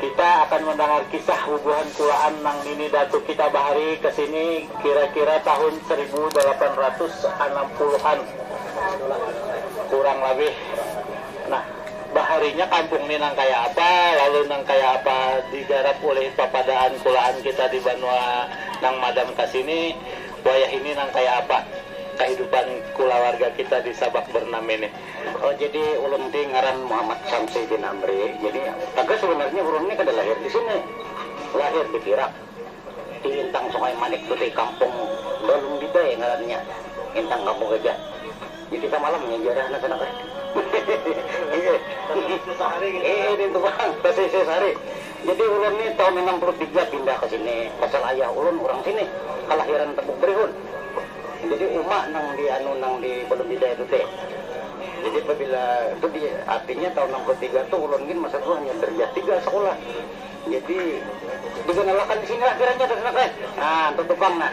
Kita akan mandangar kisah bubuhan kulaan nang nini datu kita bahari kesini kira-kira tahun saribu dalapan ratus anam puluh an kurang labih. Nah, baharinya kampung ni nang kaya apa, lalu nang kaya apa digarap ulih papadaan kulaan kita di banua nang madam kasini, wayah ini nang kaya apa kahidupan kulawarga kita di sabak berenam ini. Oh jadi ulun ti ngaran Muhammad Syamsi bin Amri, jadi tagal sabanarnya ulun ni kada lahir di sini, lahir di Pirak, di intang Sungai Manik tu ti, kampung Balung Bidai ngarannya, intang Kampung Gajah, jadi samalam nya ja dah nang sana kah, hehe, hehe, hehe, hehe, di situ pang, tasisih sehari. Jadi ulun ni tahun anam puluh tiga pindah ka sini pasal ayah ulun urang sini, kalahiran Tebuk Berihun. Jadi uma nang di anu nang di Balun Bidai tu ti. Jadi pabila tu di artinya tahun anam puluh tiga tu ulun gin masa tu hanya darjah tiga sakulah. Jadi diganalakan di sini lah kiranya dah sudah kah. Nah, ntutu pang nah.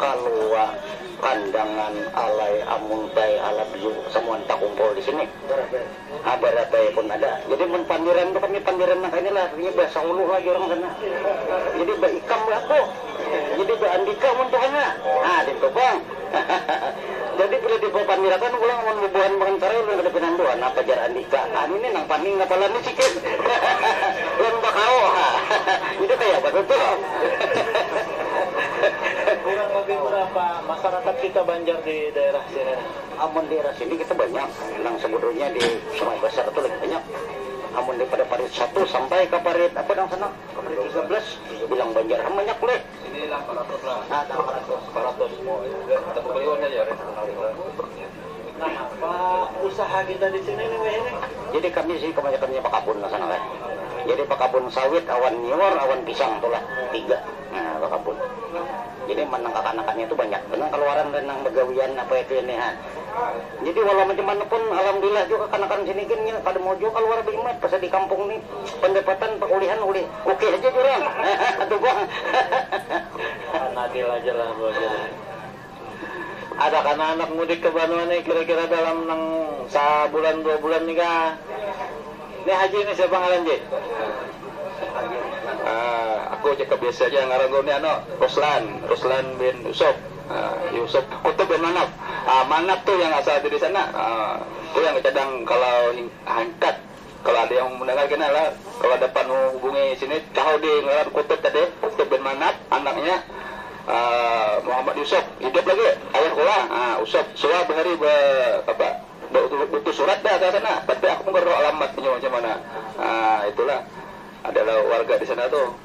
Kalua, Kandangan, Alai, Amul, Bai, Alab, Yu, samuan takumpul di sini. Barabai. Ha, Barabai pun ada. Jadi mun pandiran tu kami pandiran nang kayanilah, artinya bahasa hulu lagi urang sana. Jadi baikam bah aku. Jadi baandika mun tuha nya. Ha, nintu pang. Jadi bila dipapandirakan pulang amun bubuhan Bangankarai ulun kada pinandu ha napa jar andika. Ha nini nang paning kapala ni sikit. Lawan bakau ha. Jadi kayapa tu tuh. Kurang lebih berapa masyarakat kita Banjar di daerah sini nih? Amun daerah sini kita banyak, nang sebujurnya di Sungai Basar tu lagi banyak. Amun dari pada parit satu sampai ka parit apa nang sana ka parit tiga belas bilang Banjar ham banyak leh. Sini lah empat ratus lah. Nah, empat ratus. Empat ratus. Kita bukaliwan haja. Nangapa usaha kita di sini nih wayah nih? Jadi kami di sini kabanyakannya bakabun lah sana kan. Jadi bakabun sawit awan nyiur awan pisang tu lah tiga nah bakabun. Jadi man nang kakanakannya tu banyak banar kaluaran dan nang bagawian apa itu ini ha. Jadi walau macam mana pun alhamdulillah jua kakanakan sini gin nya kada mau jua kaluar baimat pasal di kampung ni pandapatan pakulihan ulih ok haja jar urang hahaha tu pang hahaha. Pan adil aja lah buajarnya. Ada kana handak mudik ke banua nih kira kira dalam nang sa bulan dua bulan nih kah? Nih haji nih siapa ngaran ji? Ahh aku ja kebiasa ja ngaranku nih anu ruslan, ruslan bin yusuf, ahh yusuf kutub bin manap, ahh manap tuh yang asal dari sana, ahh tu yang kecadang kalau hingkat. Kalo ada yang mendengar kena lah kalo dapat nu hubungi sini tahu di ngaran kutub tadi kutub bin manap anaknya muhammad yusuf hidup lagi ayah kula usop suah bahari ba apa ba utus surat dah ka sana tapi aku mungkin roh alamat nya macam mana itulah. Adalah warga di sana tuh.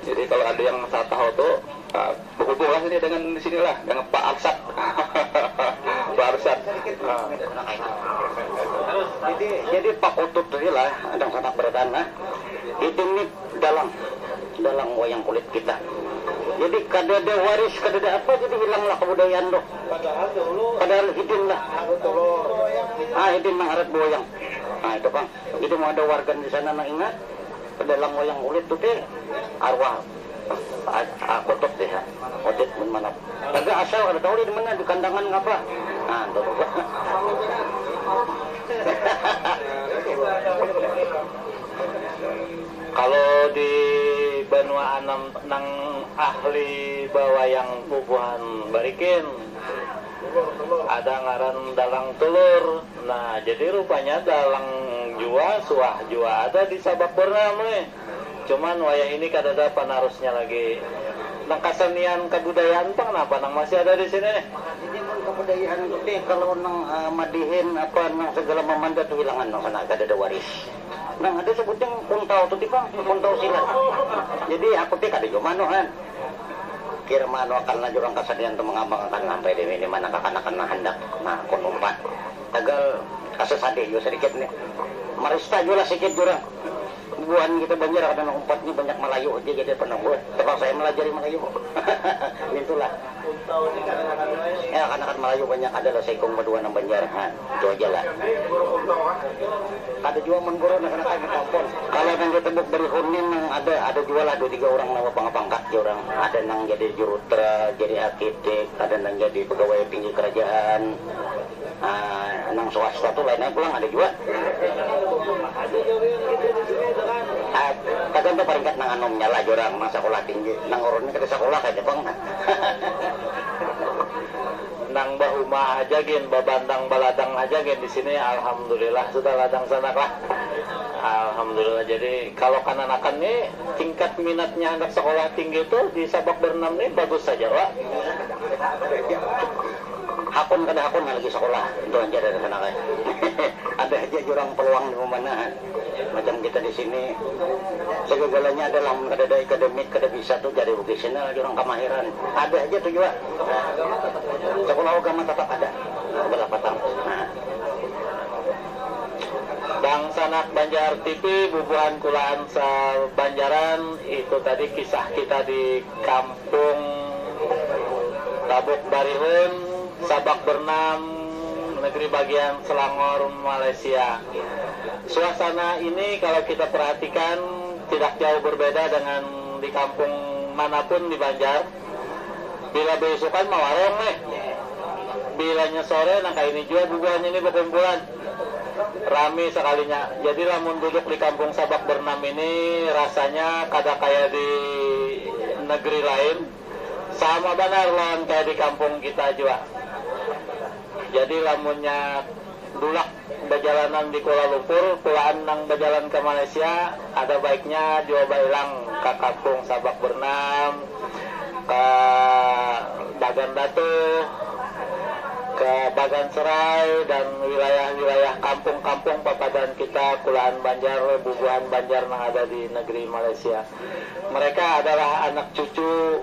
Jadi kalau ada yang sa tahu tuh behubung lah ini dengan di sini lah dengan Pak Arsad. Pak Arsad. Jadi jadi Pak Utut tuh nih lah dangsanak barataan nah. Itu nih dalang dalang wayang kulit kita. Jadi kadada waris kadada apa jadi hilang lah kebudayaan tuh. Padahal hidin lah. Hidin mangharap bewayang. Nah itu pang. Jadi mun ada warga di sana nang ingat dalam wayang kulit tu tih arwah Kutub tih ha Odit mun manat taga asal kada tahu lih di mana di kandangan kapa ha tu hahaha. Kalo di banua anam nang ahli bawayang bubuhan barikin. Ada ngaran dalang tulur. Nah, jadi rupanya dalang jua suah jua ada di Sabak Bernam leh. Cuman wayah ini kadada panarusnya lagi. Nang kasenian kabudayaan pang napa nang masih ada di sini nih? Jadi mun kabudayaan tu nih kalau nang madihin apa nang segala mamanda tu hilangan nang sana kadada waris. Nang ada sebutnya kuntal tu ti pang, kuntal silat. Jadi aku ti kada jua manuh kan. Kira maanuakanlah jurang kasenian tu mangambangakan sampai di di mana kakanakan nang handak kun umpat. Tagal asa sadih jua sadikit nih. Marista jua lah sikit jurang. Bubuhan kita Banjar kada nang umpat nih banyak Malayu haja jadi penang buh tapaksa ai malajari Malayu. Nintulah. Kakanakan Malayu banyak ada lah saikung ba dua nang Banjar. Itu haja lah. Kada jua mun guru nang kanakan batampon. Kalo nang di tembuk barihun ni nang ada, ada jua lah dua tiga urang nang bapangkat pangkat jar urang. Ada nang jadi jurutra, jadi arkitik, ada nang jadi pegawai tinggi kerajaan. Haa nang swasta tu lain ai pulang ada jua. Haa tagantung paringkat nang anum nya lah jar urang nang sakulah tinggi. Nang urun ni kada sakulah kayanya pang. Nang bahuma haja gin babantang baladang haja gin disini alhamdulillah sudah ladang sanak lah alhamdulillah jadi kalo kananakan ni tingkat minatnya handak sekolah tinggi tu di sabak berenam ni bagus haja wa hakun kada hakun lagi sekolah ntu haja dari sanak ai ada haja jurang peluang dimamana. Macam kita di sini, segagalanya ada lah, mun kadada ikademik kada bisa tu cari vocational aja urang kamahiran, ada haja tu jua sakulah ugama tatap ada balah patang. Dangsanak Banjar TV bubuhan kulaan sa Banjaran itu tadi kisah kita di kamp. Kung tabuk barihun sabak bernam negeri bagian Selangor Malaysia. Suasana ini kalau kita perhatikan tidak jauh berbeda dengan di kampung mana pun di Banjar. Bila beusukan mawarung nih, bilanya sore nang kaini jua bubuhannya nih bekumpulan. Rami sakalinya. Jadi lamun duduk di kampung Sabak Bernam ini rasanya kada kaya di negeri lain, sama banar lawan kaya di kampung kita jua. Jadi lamunnya dulak bajalanan di Kuala Lumpur, kulaan nang bajalan ka Malaysia, Kada baiknya jua bailang ka kampung sabak bernam, ka Bagan Batu, ka Bagan Serai dan wilayah-wilayah kampung-kampung papadaan kita kulaan Banjar, bubuhan Banjar nang ada di negeri Malaysia. Mereka adalah anak cucu.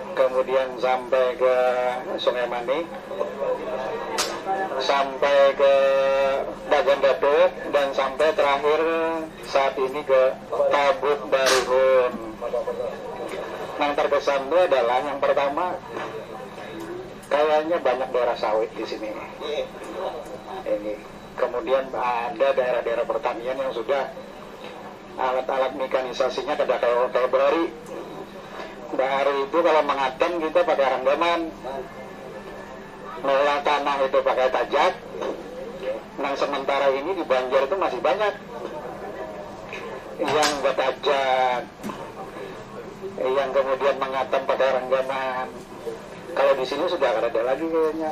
Kamudian sampai ke Sungai Manik, sampai ke Bagan Datuk, dan sampai terakhir saat ini ke Tabuk Barihun. Nang terkesan tu adalah yang pertama kayaknya banyak daerah sawit di sini ini, kemudian ada daerah-daerah pertanian yang sudah. Alat-alat mikanisasinya kada kawa kaya bahari. Bahari itu kalau mangatam kita pakai hanggaman, maulah tanah itu pakai tajak, nang sementara ini di Banjar itu masih banyak yang batajak, yang kemudian mangatam pakai ranggaman. Kalau di sini sudah kadada lagi kayanya.